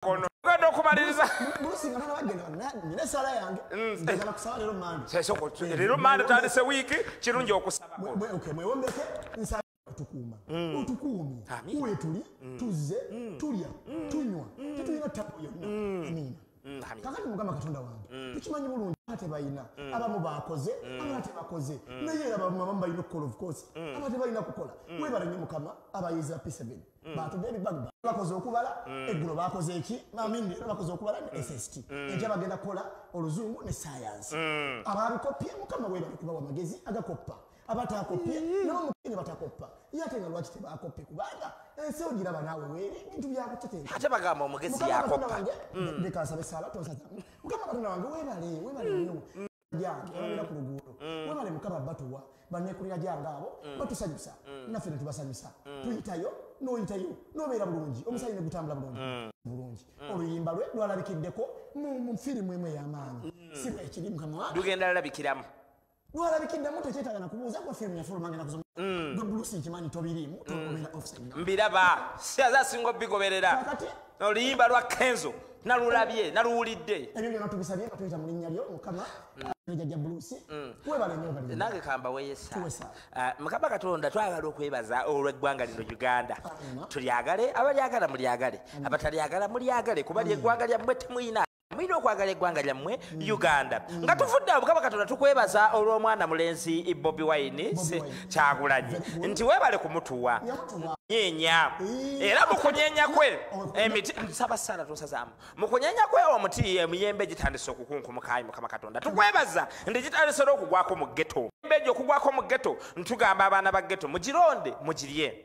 kono ogenda okumaliriza leero manda tandise wiiki kirungi okusaba kutukuuma mm. otukuumi wetuli mm. tuzze mm. tulya tunywa tetulina ttako yonna amiina kakati mukama katonda wange tukimanyi bulungi tebalina abamu bakoze abala tebakoze naye era abamu abamu balina okukola of course aba tebalina kukola webala nyo mukama abayeza p7 Mm. batude ebibagba bakoze okubala mm. eggulo bakoze eki mamini leero bakoze okubala ne mm. sst enkya bagenda kukola oluzungu ne sayansi ababikoppye mukama webali kubawa amagezi agakoppa abatakoppye nomukene batakoppa ye ate nga lwaki tebakoppe kubanga ensi ogiraba naawe weere ebintu byakuteteate bagamba omugezi yakoppa ndekansaba esaala tonsazamu mukama katonda wange webale webale nyo jange abera ku luguudo webale mukama batuwa banekulira jange abo batusanyusa naffe netubasanyusa tuyitayo noyitayo nobeera bulungi omusaayi negutambula bulungi bulungi oluyimba lwe lwalabikiddeko mu firimu emu eyamaanyi si bwekiri mukama wa lugenda lalabikiramu lwalabikiddemu tekyetaga nakubuuza gwa firimu yafulumangana kusoma mm. gwe bulusi nkimanyi tobiriimu mm. tobera offside mbiraba siaza singa obigoberera oluyimba lwa kenzo nalulabye naluwulidde ebyo byona tubisabye nga tuyita mu linnya lyo mukama jajja bulusi mm. webale nyo bali nange kamba weyesa ah, mukama katonda twagala okwebaza olweggwanga lino uganda tulyagale abalyagala mulyagale abatalyagala mulyagale kuba lyeggwanga lyammwe temuyina mulina okwagala eggwanga lyammwe mm. uganda mm. nga tufudde abukaba katonda tukwebaza olw'omwana mulenzi bobi wine kyagulanyi nti webale kumutuwa nyenya era mukunyenya kwe emiti nsaba sana tosazamu mukunyenya kwe omuti emiyembe gitandise okukunkumukayi mukama katonda tukwebaza nti gitandise n'okugwako mu geto embeji okugwako mu geto ntugamba abaana ba geto mugironde mugirye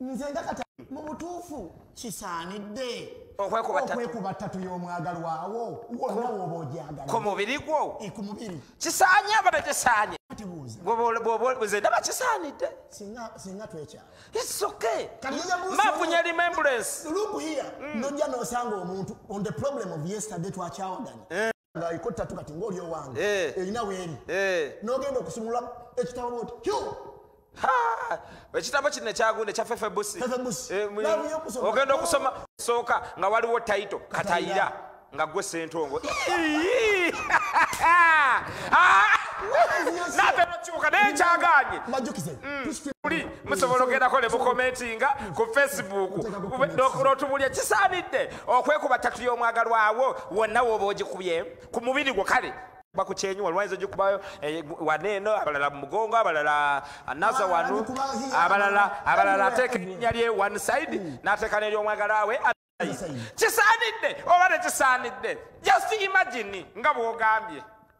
nze nga kata mu butuufu kisaanidde okwekuba ttatu y'omwagalwawo wonna wooba ogyagala ku mubiri gwo e, ku mubiri kisaanye aba tekisaanye nze ndaba kisaanidde singa twekyala isoke mafunya remembrance lukuhiya mm. nojja nosanga omuntu on the problem of yesterday twakyawaganya eh. ngaliko tatu kati ngaoli owange eh. erina weeri eh. nogenda okusumula ekitabo oti kyo ekitabo kino ekyagunde kya fefebusi eh, ogenda okusoma sooka nga waliwo taito katayira nga gwe sentongo natebakyuka naye kyaganye muli musobola ogendako ne mukomentinga ku facebook notubulya kisaanidde okwekuba tatu y'omwagalwawo wonna wooba ogikubye ku mubiri gwo kale bakukyenyi walwaiza ogikubayo eh, waneeno abalala mumugongo abalala naza wanu abalala abalala ateeka erinya lye one side mm. n'ateeka neryomwagala we kisaanidde oba tekisaanidde just imagine nga bwogambye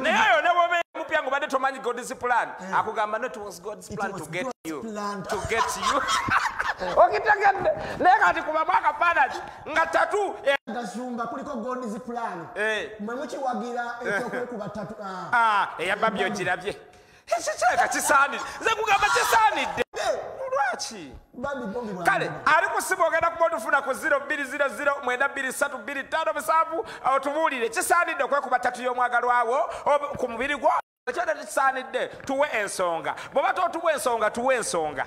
naye ayo nebobeera mupya nga obadde tomanyi god's plan eh. akugamba not was god's plan to get you to get you okitegedde naye kati kubamu akafaanaki nga tatu eh. gazumba kuliko god's plan eh. mwe mukiwagira ekyokwekuba tatu ah. ah, eyababbi ogirabye ekyo kiraka kisaanidde nze kugamba kisaanidde lwaki kale ali kusiba ogenda kuba otufuna ku 02009235 otubuulire kisaanidde okwekuba tatu y'omwagalwawo ku mubiri gwo ekyo tekisaanidde tuwe ensonga bw'oba totuwa ensonga tuwe ensonga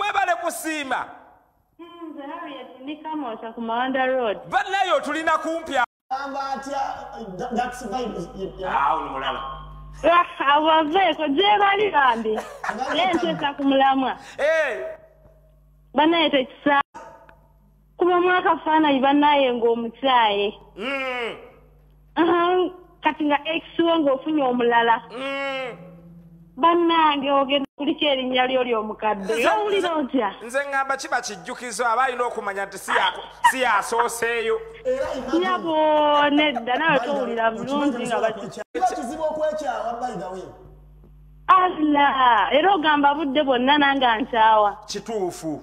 webale kusiima banaye otulina kumpi abaveeko gyebali bambi nentesa ku mulamwa banaye tekisa kuba mwaka faanayi banaye ngaomukyaye mm. kati nga ekiwo ngaofunye omulala mm. banange ogenda kuliko erinnya lyo lyomukadde owulira otya nze ngamba kiba kijjukizo aba alina okumanya nti si yasooseeyo nyabo nedda nawe towulira bulungi nga bakikizibu okwekyawa baidawe allah era ogamba budde bwonna nange ankyawa kituufu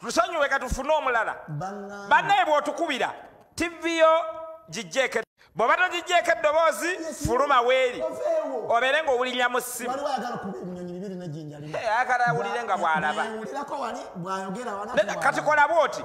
tusonyiwe katufune omulala banaye bwotukubira tivi yo gijjeeko bwoba togijjeeko eddoboozi fuluma weeri obeere nga owulirira mu ssimu akala awulire nga bwalaba kati kola bwoti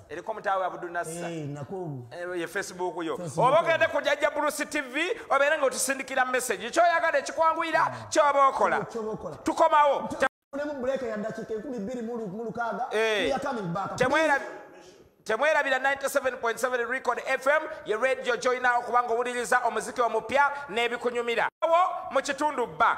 eriko mutaawe abudunassa eh, eh, ye facebook yo oba ogende ku jajja bulusi tv obeere nga otusindikira message kyoyagala ekikwanguyira ah. kyoba okola tukomawo eh. temwerabira 97.7 record fm ye radio joyinawo kubanga owuliriza omuziki omupya n'ebikunyumira wo mu kitundu bba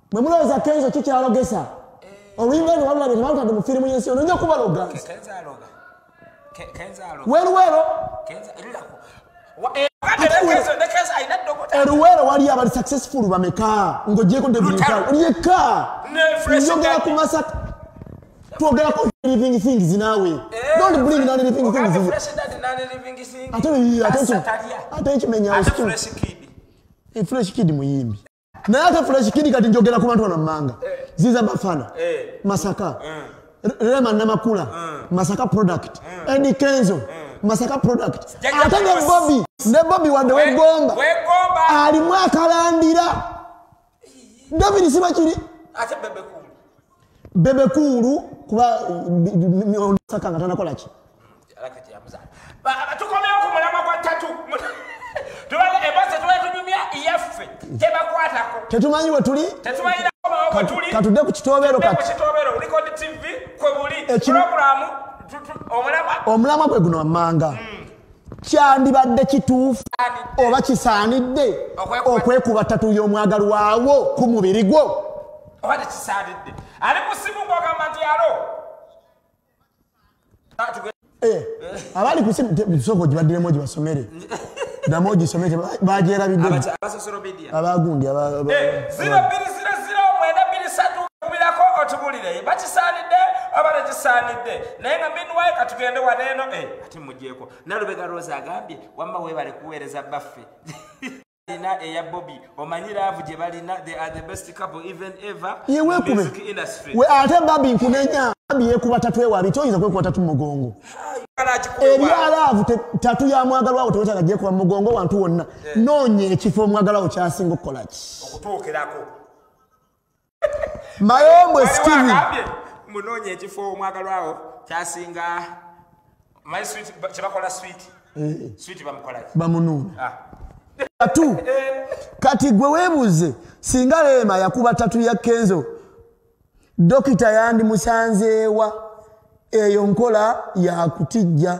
mwe mulowooza kenzo kikyalogesa oluyimba lwe walulabye tebalutadde mu firimu yensi ono nja kubaloga weruwero eruwero wali abali successful bameka ngojeko debiyeka njogera ku masak twogerako living things nawe eh, don't bring non living things ate ate kimenyawo fresh kid muyimbi naye ate fula kikindi kati njogera ku bantu bano mumanga eh. ziza bafana eh. masaka eh. rema namakula masaka product edi kenzo masaka product ate ne bobi ne bobi wadde wegomba alimu akalandira david sibakiri bebe kuulu kuba saka nga tanakolaki tukomeo ku mulamwa gwa tatu embose tuba tunyumya yaffe tebakwatako tetumanyi wetuli katudde ku kitobero omulamwa gwe guno wammanga hmm. kyandibadde kituufu oba kisaanidde okwekuba tatu y'omwagalwawo ku mubiri gwo oba tekisaanidde ali kusimu ngogamba nti alo eh, abali kusimusoko gibadiremu gibasomere damu ogisome bagyerabideabagundi otubulire bakisaanidde oba tekisaanidde naye nga minwaye katugende waneeno eh, ati mugyeko nalubega rosa agambye wamma webale kuweereza baffe Ina eya Bobby omanyi love gye balina they are the best couple even ever ye wekube we ate babi nkunenya babi yekuba tatu ewa bito yiza kwekuba tatu mugongo ebya love tatu ya mwagalwa wo teweta gye kwa mugongo wantu wonna yeah. nonye ekifo mwagalwa wo kyasinga okukola ki okutuukirako mayombwe steven munoonya ekifo omwagalwawo kyasinga my sweet kyebakola sweet eh. sweet bamukolaki bamunuuna ah. tatu eh. kati gwe webuuze singa leema yakuba tatu ya kenzo dokita yandimusanzeewa eyo nkola yakutijja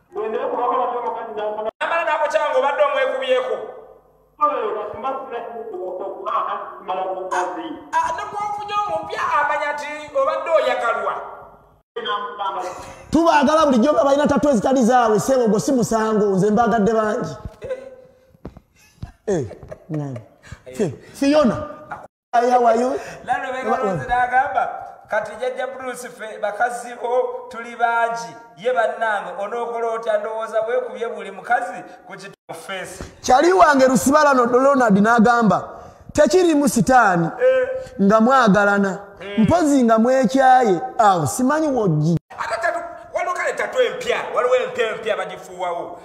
namala nakukyanga obadde omwekubyeko nokubaofunya omupya amanya nti obadde oyagalwa tubaagala bulijjo nga balina tatu ezitali zaabwe sebo gwo si musango nze mbaagadde bangi eh, eh, fiyona ayawayo lalo bekalonzi nagamba kati jajja bruce fe bakazi bo tuli bangi ye bannange onookola otya ndowooza bwekubye buli mukazi ku kitufeesi kyali wange lusibalano donald n'agamba tekirimu sitaani eh. nga mwagalana eh. mpozi nga mwekyaye awo simanyi wojji waliwo kale tatu empya waliwo empya empya bagifuuwawo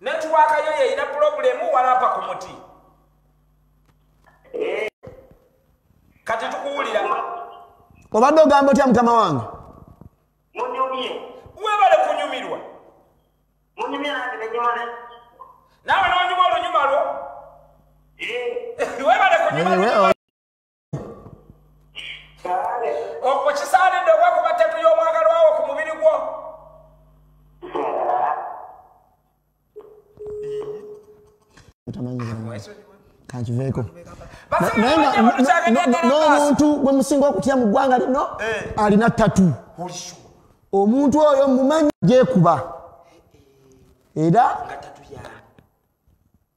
netiwaaka yo yeyina pulobulemu walapa ku muti eh. kati tukuwulira obadde ogamba otya mukama wange webale kunyumirwa nawe nonyuma olunyuma lwo eh. webale kunyuma okisaanidde okwakuba ttatu y'omwagalwawo ku mubiri gwo kankiveeko n'omuntu gwe musinga okutya mu ggwanga lino eh. alina ttatu omuntu oyo mumanyi gyekuba era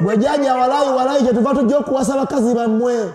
bwejaja walayi walayi kyetuva tujja okuwasa bakazi bammwe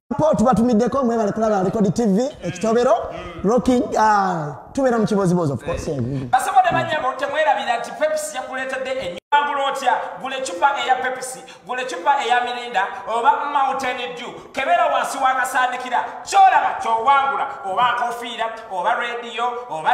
po tubatumiddeko mwebale kulaba record tv ekitobero rocking uh, tubeera mu kibozibozi ofcoursebasobodemanyabo temwerabira nti pepsi yakuleetedde enyangula otya gula ecupa eya pepsi gula ecupa eya mirinda oba mountain dew kebeera wansi wakasandikira kyolaba kyowangula oba nkofiira oba rediyo oba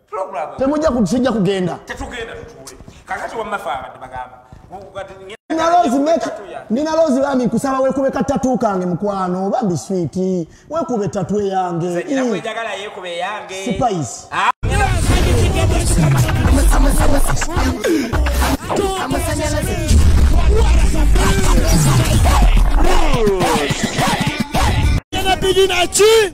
temujja kujja kugenda nina lozi bambi nkusaba wekube katatu kange mukwano bambi switi wekube tatu eyange spice Bidinachi